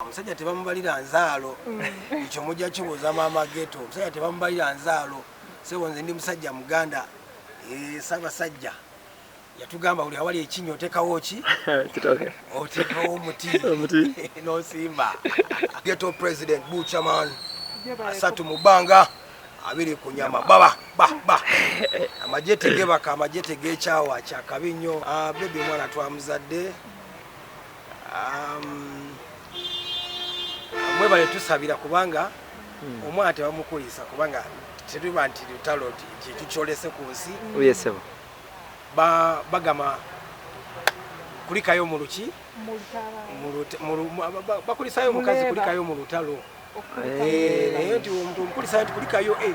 omusajja tebamubalira nzaalo mm. ekyo mujja kibuuza maama geto omusajja tebamubalira nzaalo sebo nze ndi musajja muganda eh, sabasajja yatugamba buli awali ekinyo otekawo ki otekawo omuti nosimba geto president buchaman asatu mu bbanga abiri ku nyama baba baba amagye tegebaka amagye tegekyawa kyakabi nnyo ah, bebi omwana twamuzadde Um, mwebale tusabira kubanga hmm. omwana tebamukulisa kubanga tetuba nti lutalo kintu kyolese ku nsi oh, bagamba kulikayo muluki bakulisayo omukazi kulikayo mu lutalo Eh, naye nti omuntu omukulisa nti kulikayo e eh,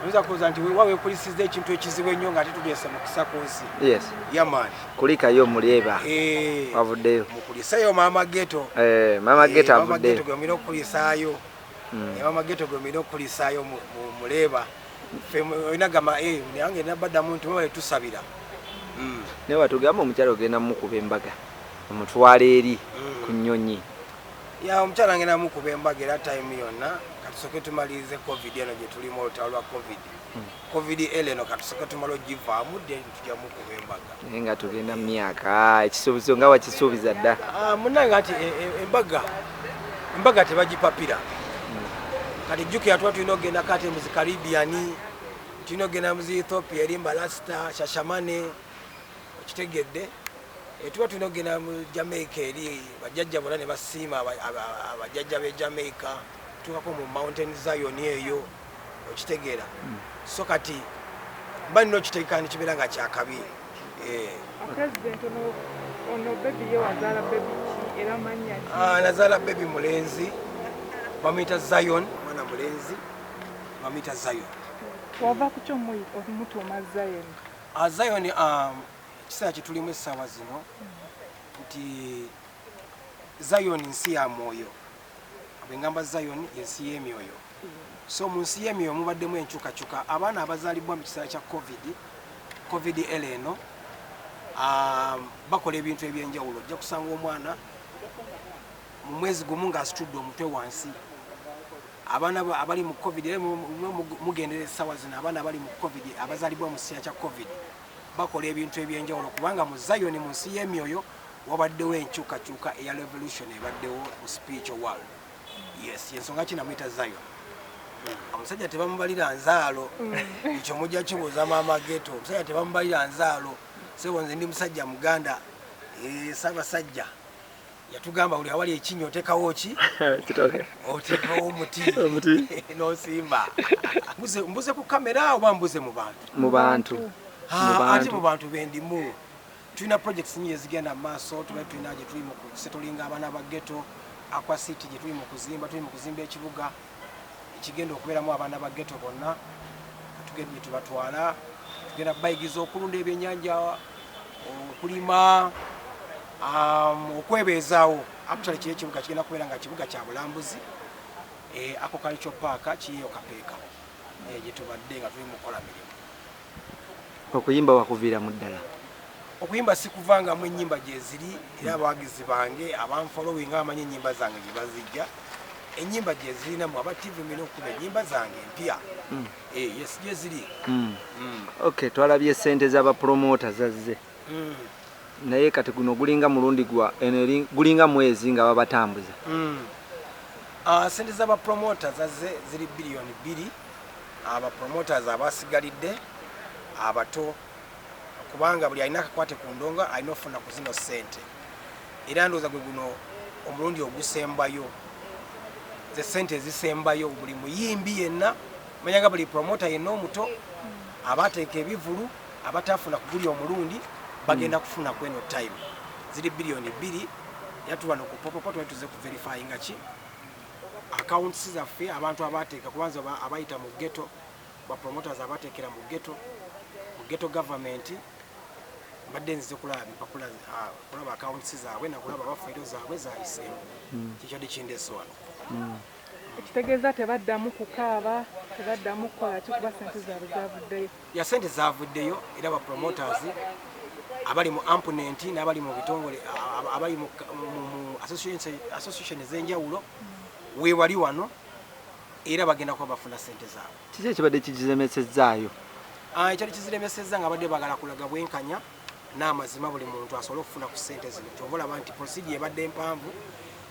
oyinza kuwooza nti wewa wekulisiza ekintu ekizibu ennyo nga titugeesa mukisa ku nsi yamaani kulikayo mulyeba eh, wavuddeyo mukuliseyo maama geto maama geto avuddeyo gwemulina okukulisaayo hmm. maama geto gwemulina okukulisaayo muleeba olina gamba nange nabaddamu nti mwebale tusabira hmm. naye watugamba omukyalo ogenda mukuba embaga omutwala eri hmm. ku nnyonyi Ya omukyala ngenda mukuba embaga era time yonna katusoke tumalirize covid eno gye tulimu olutalo lwa covid hmm. covid el eno katusoke tumala ogivaamu then tujja mukuba embaga naye nga tugenda mu myaka ah, ekisuubizo nga wakisuubiza dda ah, munange ati e, e, embaga embaga tebagipapira hmm. kati jjukira tuba tulina okugenda kati muzi caribbean tulina okugenda muzi ethiopia eri mbalasita shashamane okitegedde etuba tulina okugenda mu jamaica eri bajajja bona nebasiima abajajja be jamaica tuukako mu mountain zion eyo okitegeera hmm. so kati mba nina okitegeka nikibeera nga kyakabi eh. ah, nazaala bebi mulenzi bamuyita zion mwana mulenzi bamuyita zion wava kukyo omutuuma zion A Zion um, ekiseera kye tulimu essaawa zino nti Zion nsi ya mwoyo bwe ngamba Zion ensi y'emyoyo so mu nsi y'emyoyo mubaddemu enkyukakyuka abaana abazaalibwa mu kiseera kya covid covid el eno um, bakola ebintu ebyenjawulo ojja kusanga omwana mu mwezi gumu ng'asitudde omutwe wansi Abaana abali mu covid era mugendera essaawa zino abaana abali mu covid abazalibwa mu kiseera kya covid bakola ebintu ebyenjawulo kubanga mu zayoni mu nsi y'emyoyo wabaddewo enkyukakyuka eya revolution ebaddewo mu spiritual world yes yensonga kinamuyita zayon omusajja tebamubalira nzaalo mm. ekyo mujja kibuuza maama geto omusajja tebamubalira nzaalo sebo nze ndi musajja muganda eh, sabasajja yatugamba buli awali ekinnya otekawo ki otekawo omuti nosimba mbuze ku kamera oba mbuze mu bantu mu bantu ate mu bantu bendimu tulina projects nyingi ezigenda mu maaso tuba tulina gyetuli mu kusetolinga abaana ba geto aquacity gyetuli mu kuzimba tuli mu kuzimba ekibuga ekigenda okubeeramu abaana ba geto bonna tugenda gyetubatwala tugenda bayigiza okulunda ebyenyanja okulima um, okwebeezaawo actually kiri ekibuga kigenda kubeera nga kibuga kya bulambuzi eh, akokalikyo paaka kiyeyo kapeeka eh, gyetubadde nga tuli mukukola mirimu Okuyimba wakuviiramu ddala? Okuyimba sikuvangamu, ennyimba gyeziri era abawagizi bange abanfolowinga bamanyi ennyimba zange gye bazijja. Ennyimba gyeziri namwe aba TV mulina okukuba ennyimba zange empya. Mm. Eh, yes gyeziri. Mm. Mm. Okay, twalabye ssente z'abapromoota zazze. mm. naye kati guno gulinga mulundi gwa eno eri gulinga mwezi nga babatambuza mm. uh, sente za bapromoters aze ziri biliyoni bbiri abapromoters ah, abasigalidde abato ah, kubanga buli alina akakwate ku ndongo alina okufuna ku zino sente era ndooza gwe guno omulundi ogusembayo ze sente ezisembayo buli muyimbi yenna manyanga buli promota yenna omuto abateeka ebivulu abataafuna kuguli omulundi bagenda hmm. kufuna kweno time ziri biliyoni bbiri era tuba nokupopopo tuba tuze ku verify nga ki accounts zaffe abantu abateeka kubanza abayita mu ghetto ba promoters abateekera mu ghetto mu ghetto government mbadde nzize kulaba bipapula ah, kulaba accounts zaabwe nakulaba bafeero zaabwe zayiseemu hmm. kikyadi kindeso wano hmm. ekitegeeza tebaddamu kukaaba tebaddamu kukola kikuba sente zaabwe zavuddeyo ya sente zavuddeyo era ba promoters abali mu amponent n'abali mu bitongole abali mu association ez'enjawulo weewali wano era bagenda kuba bafuna sente zaabwe kiki ekibadde kigiremesezaayo ah, ekyali kiziremesezza nga abadde bagala kulaga bwenkanya n'amazima buli muntu asobole okufuna ku sente zino kyova olaba nti prosidi ebadde mpanvu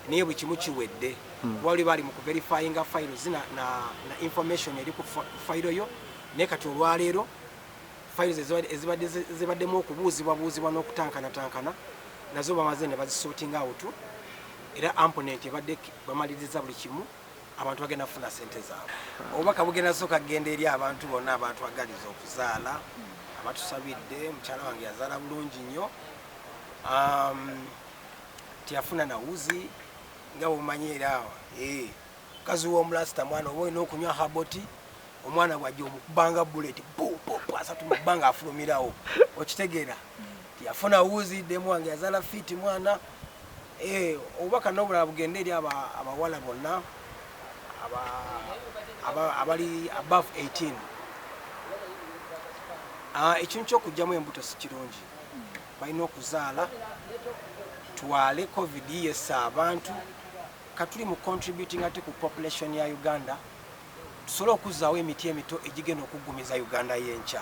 naye buli kimu kiwedde hmm. wali bali mu kuverifyinga fayiro zina na information eri ku fayiro yo Naye kati olwaleero fayiro zezibaddemu okubuuzibwabuuzibwa n'okutankana-tankana nazo bamaze ne bazisootinga awutu era amponenti ebadde bamaliriza buli kimu abantu bagenda kufuna sente zaabwe obubaka bugenda sooka kugenda eri abantu bonna abatwagaliza okuzaala abatusabidde mukyala wange yazaala bulungi nnyo um, teyafuna nawuzi nga bwomanyi era awa eh. Mukazi w'omulasita mwana oba olina okunywa herbal tea omwana bw'ajja omukubanga bullet bu bu bu asatu mu bbanga afulumirawo okitegeera nti yafuna wuzi demu wange yazaala fiiti mwana eh, obubaka n'obulala bugende eri aba- abawala bonna aba- aba- abali above 18 Ah, ekintu ky'okugyamu embuto si kirungi balina okuzaala twale covid yessa abantu Katuli mu contributing ate ku population ya Uganda tusole okuzaawo emiti emito egigenda okuggumiza Uganda yenkya.